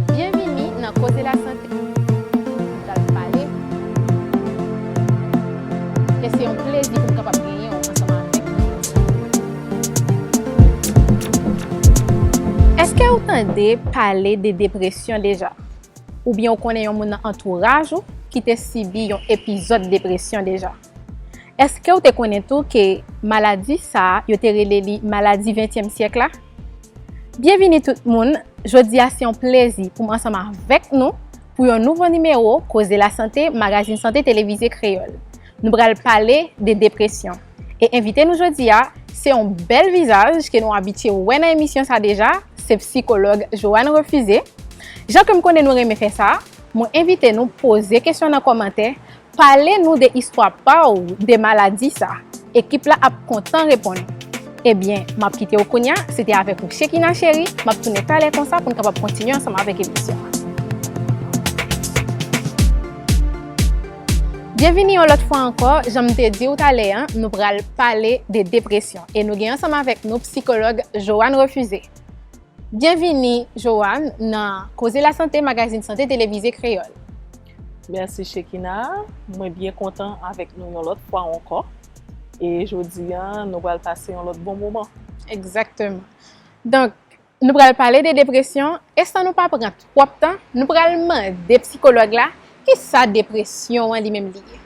Byenvini nan Koze Lasante, nou pral pale e se yon plezi pou m kapab genyen w ansanm avèk nou jodi a. Èske ou tande pale de depresyon deja? Oubyen ou konnen yon moun nan antouraj ou ki te sibi yon epizòd depresyon deja? Èske w te konnen tou ke maladi sa a yo te rele li maladi ventyèm syèk la? Byenvini tout moun, jodi a se yon plezi pou m ansanm avèk nou pou yon nouvo nimewo Koze Lasante Magazin Sante Televize Kreyòl. Nou pral pale de depresyon e envite nou jodi a se yon bèl vizaj ke nou abitye wè nan emisyon sa deja, se psikològ Johanne Refusé. Jan ke m konnen nou renmen fè sa, mwen envite nou poze kesyon nan kòmantè Pale nou de istwa pa w de maladi sa. Ekip la ap kontan reponn ou. Ebyen, m ap kite w kounya. Se te avèk ou Shekina cheri. M ap tounen talè konsa pou n kapab kontinye ansanm avèk emisyon an. Byenvini yon lòt fwa ankò. Jan m te di w talè an, nou pral pale de depresyon. E nou gen ansanm avèk nou psikològ Johanne Refusé. Byenvini Johanne nan Koze Lasante, magazin sante televize kreyòl. Merci Shekina, mwen byen kontan avèk nou yon lòt fwa ankò e jodi a nou pral pase yon lòt bon moman. Egzakteman. Donk, nou pral pale de depresyon e san nou pa pran twòp tan, nou pral mande psikològ la ki sa depresyon an li menm li ye.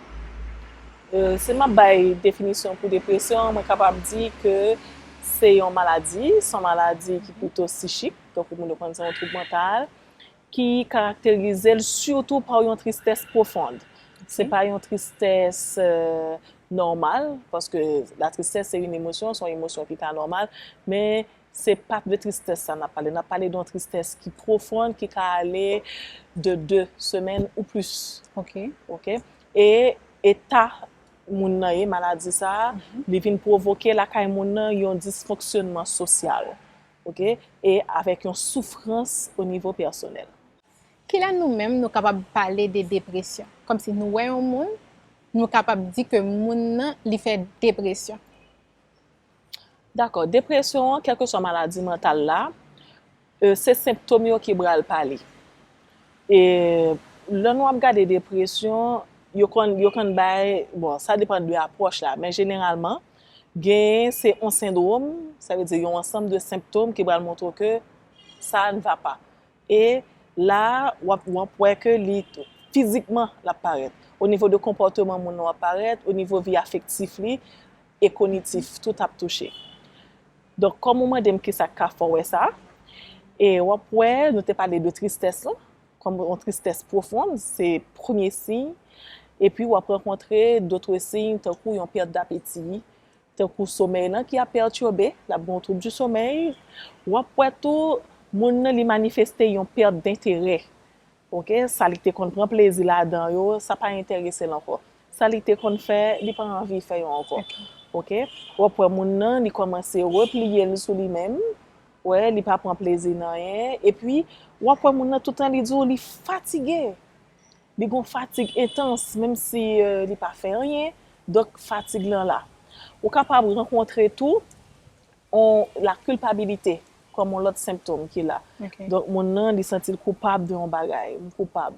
Si m ap bay definisyon pou depresyon an, mwen kapab di ke se yon maladi, se yon maladi ki pito sichik, donk moun yo konn se yon twoub mantal Ki karakterize l sitou pa yon tristès pwofond. Se pa yon tristès nòmal, paske latristès se yon emosyon, se yon emosyon ki pa nòmal, men se pa de tristès sa n ap pale. N ap pale de yon tristès ki pwofond, ki ka ale de 2 semèn ou plis. Ok. E eta moun nan ye, maladi sa a, li vin pwovoke lakay moun nan yon disfonksyònman sosyal. Ok, e avèk yon soufrans o nivo pèsonèl. Kilè nou menm nou kapab pale de depresyon? Kòmsi nou wè yon moun, nou kapab di ke moun nan li fè depresyon. Dakò, depresyon an, kèlkeswa maladi mantal la, se senptom yo ki bral pale. E lè nou ap gade depresyon, yo konn, yo konn bay, bon, sa depan de apwòch la, men jeneralman, Genyen se on sendrom, sa vle di yon ansanm de senptom ki pral montre w ke sa a n va pa. E la a w ap wap wè ke li fizikman l ap parèt. O nivo de konpòteman moun nan w ap parèt, o nivo vi afektif li e konitif, tout ap touche. Donk kòm ou mande m kisa k ka fè w wè sa, e w ap wè nou te pale de tristès lan, kòm yon tristès pwofon, se premye siy, epi w ap rankontre dotre siy tankou yon pèt dapeti, tankou somèy lan ki ap pètyobe, l ap gen yon twoub di somèy, w ap wè tou moun nan li manifeste yon pèt denterè, ok, sa li te konn pran plezi ladan yo, sa pa enterese l ankò, sa li te konn fè, li pa anvi fè yo ankò, ok, w ap wè moun nan li kòmanse repliye l sou li menm, wè li pa pran plezi nan anyen epi wap wè moun nan toutan li di w li fatige li gon fatig entans menm si li pa fè anyen donk fatig lan la ou kapab rankontre tou on la kilpabilite kòm on lòt senptom ki la donk moun nan li santi l koupab de on bagay m koupab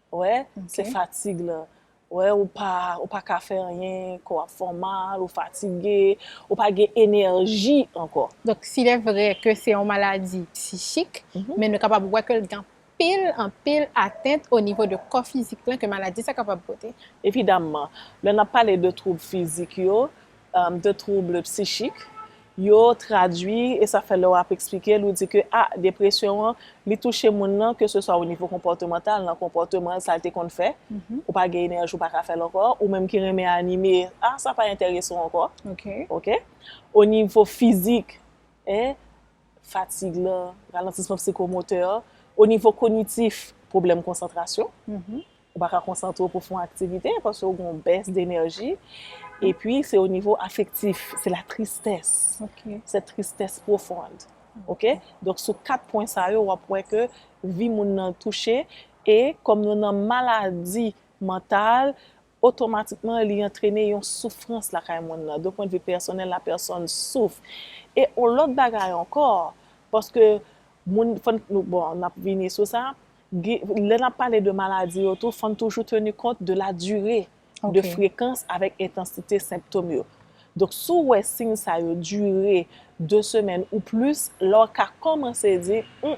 wè se fatig lan, wè ou pa ou pa ka fè anyen, kò w ap fè w mal, ou fatige, ou pa gen enèji ankò. Donk si lè vrè ke se yon maladi psichik, men nou kapab wè ke l gen anpil, anpil atent o nivo de kò fizik lan ke maladi sa kapab pote. Evidamman, lè n ap pale de twoub fizik yo, de trouble psychique yo tradui e sa fè lè w ap eksplike l ou di ke a depresyon an li touche moun nan ke se swa o nivo konpòtemantal nan konpòteman l sa l te konn fè ou pa gen enèji ou pa ka fè l ankò ou menm ki renmen anime a sa pa enterese w ankò ok o nivo fizik e fatig lan ralantisman psikomotè o nivo kognitif pwoblèm konsantrasyon. ou pa ka konsantre w pou w fè yon aktivite paske w gen yon bès denèji epi se o nivo afektif se la tristès se tristès pwofond ok donk sou 4 pwen sa yo w ap wè ke vi moun nan touche e kòm nou nan maladi mantal otomatikman li antrene yon soufrans lakay moun nan de pwen de vi pèsonèl la pèsòn souf e yon lòt bagay ankò paske moun fò n bon n ap vini sou sa Lè n ap pale de maladi yo tou, fò n toujou teni kont de la dure, de frekans avèk entansite senptom yo. Donk si w wè siy sa yo dure 2 semèn ou plis, la w ka kòmanse di, Hum,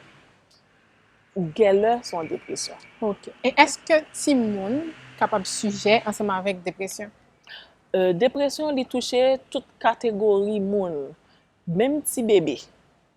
gèlè se yon depresyon. Ok. E èske timoun kapab sijè ansanm avèk depresyon? Depresyon li touche tout kategori moun, menm ti bebe.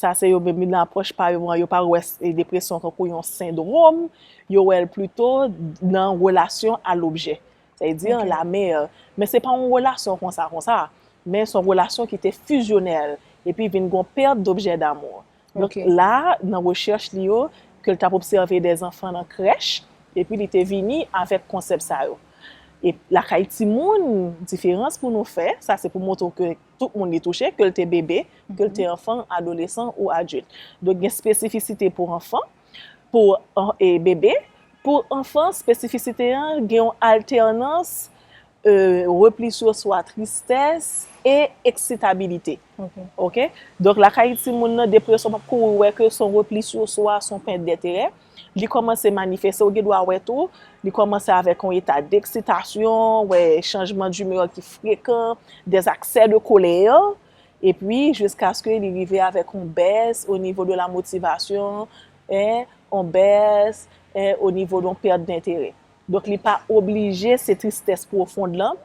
Sa se yo menm li nan apwòch pa yo an, yo pa wè depresyon tankou yon sendrom, yo wè l plito nan relasyon a lobjè. Sa vle di, la mer. Men se pa yon relasyon konsa konsa, men se yon relasyon ki te fizyonèl, epi vin gon pèt dobjè damou. Donk la, nan rechèch li yo, ke l t ap obsève de zanfan nan krèch, epi li te vini avèk konsèp sa yo. Lakay timoun, diferans pou nou fè, sa se pou montre w ke tout moun li touche, ke l te bebe, ke l te anfan, adolesan ou adilt. Donk gen spesifisite pou anfan, pou bebe, pou anfan spesifisite an gen yon altènans repli sou swa, tristès e eksitabilite. Donk lakay timoun nan depresyon pap kouri wè ke son repli sou swa, son pèt dèterè. Li kòmanse manifeste, ou gen dwa wè tou, li kòmanse avèk yon eta deksitasyon, wè chanjman dimeur ki frekan, des accès de colère, epi jiskaske li rive avèk yon bès o nivo de la motivasyon, en, yon bès, en, o nivo de yon pèt denterè. Donk li pa oblije se tristès pwofond lan,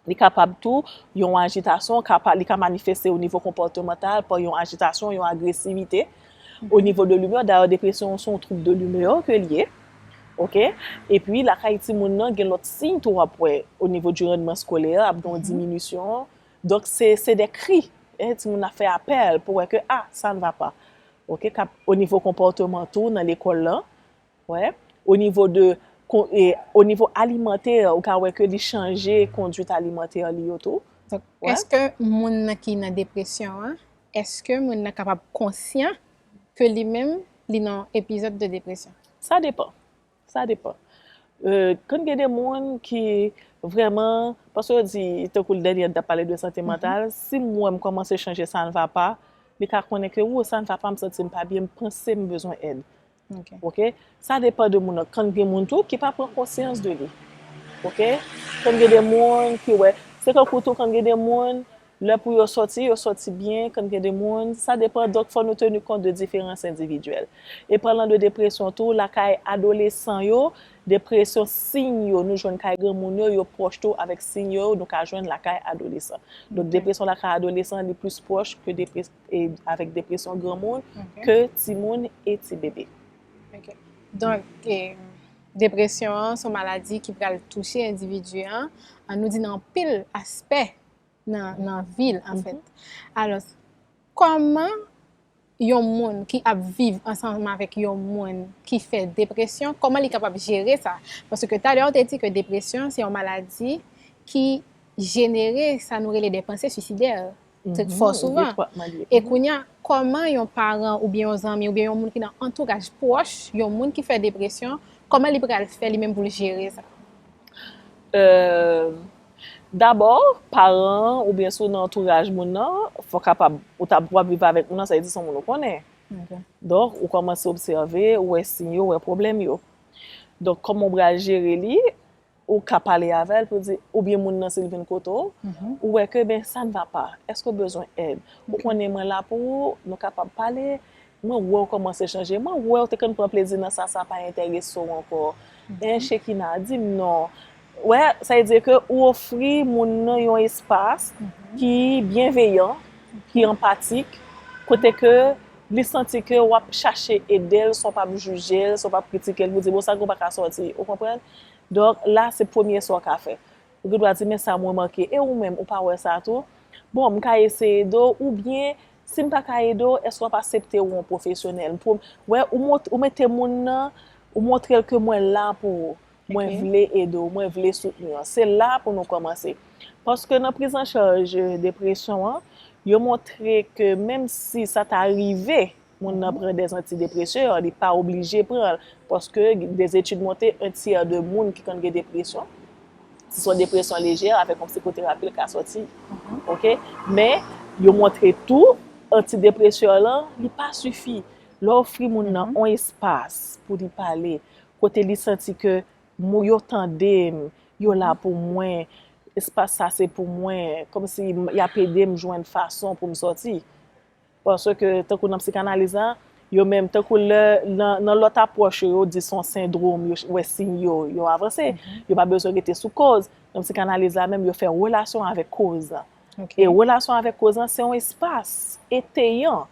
Li kapab tou yon ajitasyon ka pa li ka manifeste o nivo konpòtemantal pa yon ajitasyon, yon agresivite o nivo de limè, dayè depresyon se yon twoub de limè ke li ye ok, epi lakay timoun nan gen lòt siy tou wap wè o nivo di randman skolè ap gen yon diminisyon donk se se de kri e timoun nan ap fè apèl pou wè ke a sa n va pa ok, kap o nivo konpòteman tou nan lekòl lan Wè, o nivo de, o nivo alimantè, ou ka wè ke li chanje konduit alimantè li yo tou. Donk, èske moun nan ki nan depresyon an, èske moun nan kapab konsyan ke li menm li nan yon epizòd de depresyon? Sa depan. Sa depan. Konn gen de moun ki vrèman, paske yo di, tankou l dènye an n t ap pale de sante mantal, si m wè m kòmanse chanje sa n va pa, li ka konnen ke, woo, sa n va pa, m santi m pa byen, m panse m bezwen èd. ok sa depan de moun nan kan gen moun tou ki pa pran konsyans de li ok kan gen de moun ki wè se tankou tou kan gen de moun lè pou yo sòti yo sòti byen kan gen de moun sa depan donk fò nou teni kont de diferans endividyèl e palan de depresyon tou lakay adolesan yo depresyon siy yo nou jwenn kay granmoun yo yo pwòch tou avèk siy yo nou ka jwenn lakay adolesan donk depresyon lakay adolesan li plis pwòch ke depresyon. avèk depresyon granmoun ke timoun e ti bebe. Ok. Donk, depresyon an son maladi ki pral touche endividi an, an nou di nan anpil aspè nan vi l anfèt. Alòs, kòman yon moun ki ap viv ansanm avèk yon moun ki fè depresyon, kòman li kapab jere sa? Paske talè ou te di ke depresyon se yon maladi ki jenere sa nou rele de panse suisidè. Tèt fò souvan. E kounye a, kòman yon paran oubyen yon zanmi oubyen yon moun ki nan antouraj pwòch yon moun ki fè depresyon, kòman li pral fè li menm pou l jere sa? Dabò, paran an oubyen si w nan antouraj moun nan, fò w kapab, ou ta w ap viv avèk moun nan, sa vle di se yon moun ou konnen. Donk, ou kòmanse obsève, ou wè siy yo, ou wè pwoblèm yo. Donk, kòman ou pral jere li? Ou ka pale avè l pou di, oubyen moun nan si l vin kote w, ou wè ke ben sa n va pa, èske ou bezwen èd? Ou konnen mwen la pou ou, nou kapab pale, mwen wè w kòmanse chanje, mwen wè w te konn pran plezi nan sa, sa pa enterese w ankò. Enh Shekina, di m non. Ou wè, sa vle di ke ou ofri moun nan yon espas ki byenveyan, ki anpatik, kote ke li santi ke w ap chache ede l san w p ap jije l, san w p ap kritike l pou di bon sa ke w pa ka sòti, ou konprann? Donk, la se premye sa w ka fè. Ou gen dwa di, men sa m remake, e ou menm, ou pa wè sa tou? Bon, m ka eseye ede w, oubyen, si m pa ka ede w, èske w ap asepte wè yon pwofesyonèl? Pou, wè, ou mete moun nan, ou montre l ke mwen la pou ou, mwen vle ede w, mwen vle soutni w. Se la pou nou kòmanse. Paske nan priz an chaj depresyon an, yo montre ke menm si sa ta rive, moun nan pran des antidepreseurs li pa oblije pran l paske des études montre un tiers de moun ki konn gen depresyon si son depresyon lejè avèk yon psikoterapi l ka sòti ok men yo montre tou antidepreseur lan li pa sifi lè w ofri moun nan yon espas pou li pale kote li santi ke mou yo tande m yo la pou mwen espas sa se pou mwen kòmsi y ap ede m jwenn fason pou m sòti Paske, tankou nan psikanaliz la, yo menm, tankou lè, nan lòt apwòch yo, yo di son sendrom, yo wè siy yo, yo avanse. Yo pa bezwen rete sou kòz. Nan psikanaliz la menm, yo fè relasyon avèk kòz la. E relasyon avèk kòz la, se yon espas eteyan,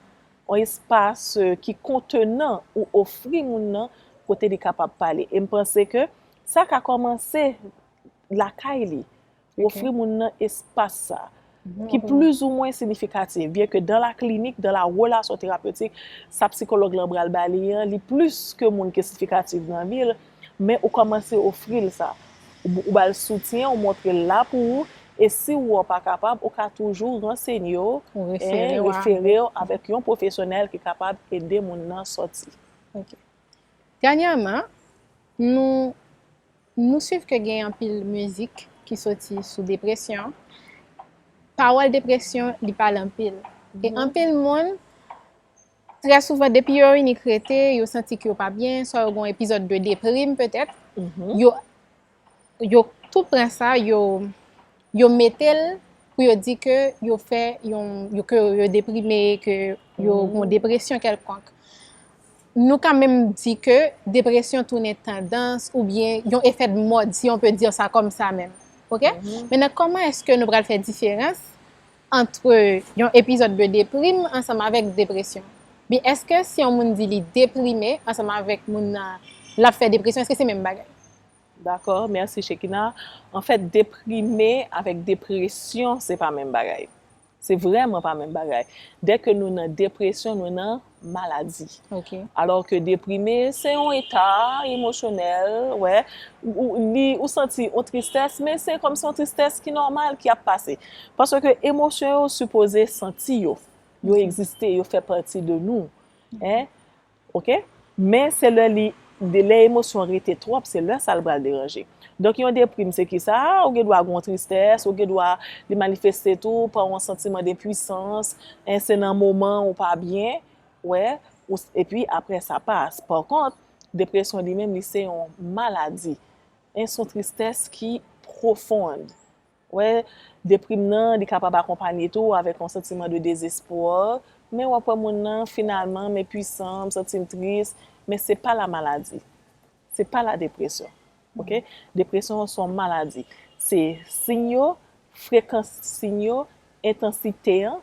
yon espas ki kontenan ou ofri moun nan kote li kapab pale. E m panse ke sa ka kòmanse lakay li. Ou ofri moun nan espas sa a, ki plizoumwen sinifikatif, byen ke dan la klinik, dan la relasyon terapyotik, sa psikològ lan pral ba li an, li plis ke moun ki sinifikatif nan vi l, men ou kòmanse ofri l sa. Ou ba l soutyen, ou montre l la pou ou, e si ou wè ou pa kapab, ou ka toujou ransenye w, refere w avèk yon pwofesyonèl ki kapab ede moun nan sòti. Ok. Dènyèman, nou Nou swiv ke gen anpil mizik ki soti sou depresyon, pawòl depresyon li pale anpil. E anpil moun, trè souvan depi yo inik rete, yo santi ke yo pa byen, swa yo gen yon epizòd de deprim petèt, yo tou pran sa, yo Yo mete l pou yo di ke yo fè yon, ke yo deprime, ke yo mm-hmm. yon depresyon kelkonk. Nou ka menm di ke depresyon tounen tandans ou byen yon efè de mod, si yon pe di sa kom sa menm. Ok? Mm-hmm. Menan, koman eske nou pral fè diferans antre yon epizod de deprime ansanm avèk depresyon? Bi, eske si yon moun di li deprime ansanm avèk moun nan la fè depresyon, eske se menm bagay? Dakò merci Shekina. Anfèt deprime avèk depresyon se pa menm bagay. Se vrèman pa menm bagay. Dè ke nou nan depresyon nou nan maladi. Ok. Alò ke deprime se yon eta emosyonèl wè ou li ou santi yon tristès men se kòm se yon tristès ki nòmal ki ap pase. Paske emosyon yo sipoze santi yo. Yo egziste yo fè pati de nou. Hein. ok men se lè li lè emosyon rete twòp se lè sa l pral deranje donk yon deprim se kisa ou gen dwa gen yon tristès ou gen dwa li manifeste tou pa yon santiman denpuisans en se nan moman ou pa byen wè ou epi aprè sa pas pa kont depresyon li menm li se yon maladi en son tristès ki profond. Wè, deprim nan, li kapab akonpanye tou avèk yon santiman de dezespwa, men wap wè moun nan, finalman, men pwisan, m santi m tris, men se pa la maladi. Se pa la depresyon. Ok? Depresyon an se yon maladi. Se siy yo, frekans siy yo, entansite an,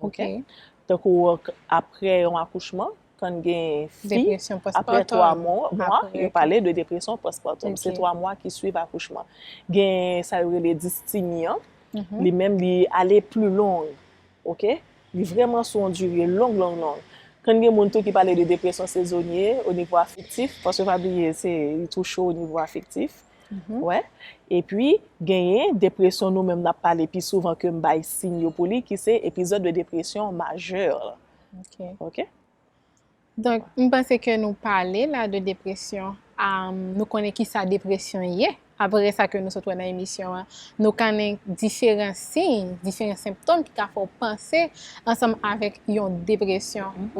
Ok. Tankou apre yon akouchman, kan gen fi, Depresyon apre postpartum. 3 mwa, Apre. yo pale de depresyon postpartum. Ok. Se 3 mwa ki swiv akouchman. Gen sa yo rele dysthymie an, Mhm. li menm li ale pli long, ok. Li vreman sou yon dire long long long. Kan gen moun tou ki pale de depresyon sezonye onivo afektif, paske pa bliye se li tou cho onivo afektif. wè. Epi genyen depresyon nou menm n ap pale pi souvan ke m bay siy yo pou li ki se epizòd de depresyon majè. Ok. Donk m panse ke nou pale la de depresyon, nou konnen ki sa depresyon ye, apre sa ke nou sot wè nan emisyon an. Nou kannen diferan siy, diferan senptom ki ka fè w panse ansanm avèk yon depresyon.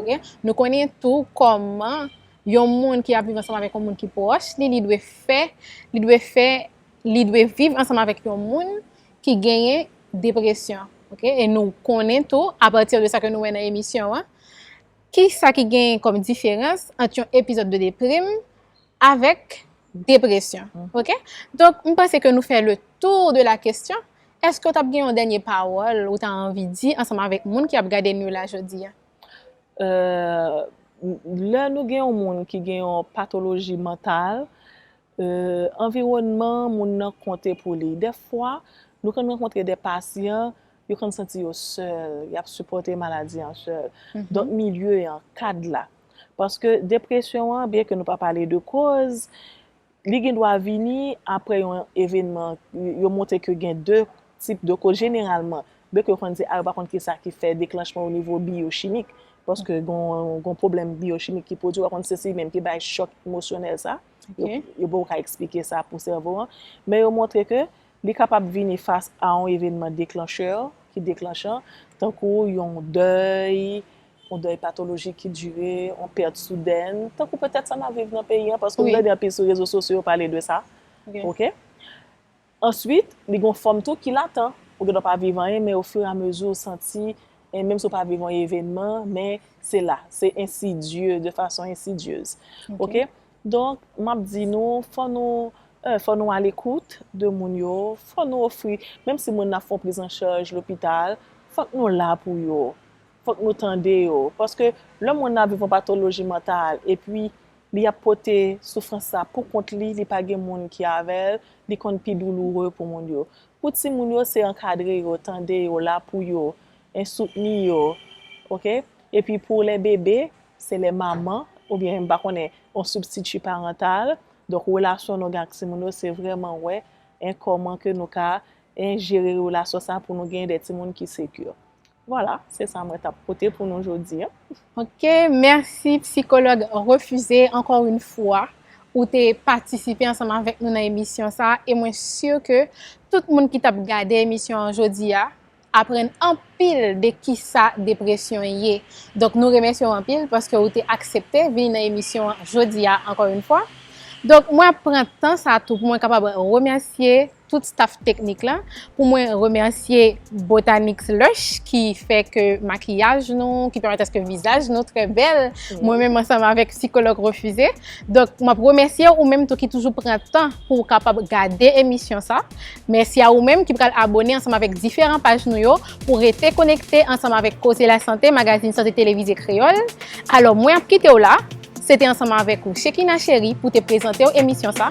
Nou konnen tou kòman Yon moun ki ap viv ansanm avèk yon moun ki pwòch li, li dwe fè, li dwe fè, li dwe viv ansanm avèk yon moun ki genyen depresyon, ok? E nou konnen tou, apati de sa ke nou wè nan emisyon an, ki sa ki genyen kòm diferans ant yon epizòd de deprim avèk depresyon, ok? Donk, m panse ke nou fè le tour de la kesyon. Èske ou t ap gen yon dènye pawòl ou ta anvi di ansanm avèk moun ki ap gade nou la jodi a? Lè nou gen yon moun ki gen yon patoloji mantal, anviwònman moun nan konte pou li. Dèfwa, nou konn rankontre de pasyan, yo konn santi yo sèl, y ap sipòte maladi an sèl. Donk milye an, kad la. Paske depresyon an, byenke nou pa pale de koz, Li gen dwa vini apre yon evenman, yo montre ke gen 2 tip de koz jeneralman, byen ke yo konn di a yo pa konn kisa ki fè deklanchman onivo biyochimik, paske gon pwoblèm biyochimik ki pwodui, yo pa konn si se li menm ki bay chòk emosyonèl sa, yo poko ka eksplike sa pou sèvo an, men yo montre ke li kapab vini fas a yon evenman deklanchè, ki deklanchan, tankou yon dèy, yon dèy patolojik ki dire, yon pèt soudèn, tankou petèt sa n ap viv nan peyi an, paske m tande anpil sou rezo sosyo yo pale de sa, ok. Answit, li gen yon fòm tou ki latan, ou gen dwa pa viv anyen, men ofiramezi ou santi, menm si ou pa viv yon evenman, men se la, se ensidye, de fason ensidyez, ok. Donk, m ap di nou, fò nou, 1, fò nou alekout de moun yo, fò nou ofri, menm si moun nan ap fè yon prizancharj lopital, fòk nou la pou yo. Fòk nou tande yo. Paske lè moun nan ap viv yon patoloji mantal epi li ap pote soufrans sa pou kont li, li pa gen moun ki avè l, li konn pi douloure pou moun yo. Pou timoun yo se ankadre yo, tande yo, la pou yo, en soutni yo. Ok? Epi pou lè bebe, se lè manman, oubyen m pa konnen, yon sibstiti parantal. Donk relasyon nou gen ak timoun yo se vrèman wè en kòman ke nou ka en jere relasyon sa pou nou gen de timoun ki sekur. Voilà se sa mwen tap pote pou nou jodi an. Ok merci psychologue Refusé ankò yn fwa ou te patisipe ansanm avèk nou nan emisyon sa e mwen sur ke tout moun ki tap gade emisyon an jodi a aprann anpil de kisa depresyon ye donk nou remèsye w anpil paske ou te aksepte vini nan emisyon an jodi a ankò yn fwa donk mwen ap pran tan sa tou pou mwen kapab remèsye tout staff teknik la, pou mwen remèsye Botanix Lush ki fè ke makiyaj nou, ki pèmèt aske vizaj nou trè bèl, mwen menm ansanm avèk sikològ Refuze. Donk, m ap remèsye ou menm tou ki toujou pran tan pou ou kapab gade emisyon sa. Mèsi a ou menm ki pral abone ansanm avèk diferan paj nou yo pou rete konekte ansanm avèk Koze Lasante, magazin sante televize kreyòl. Alò, mwen ap kite w la. Se te ansanm avèk ou Shekina Chery pou te prezante w emisyon sa.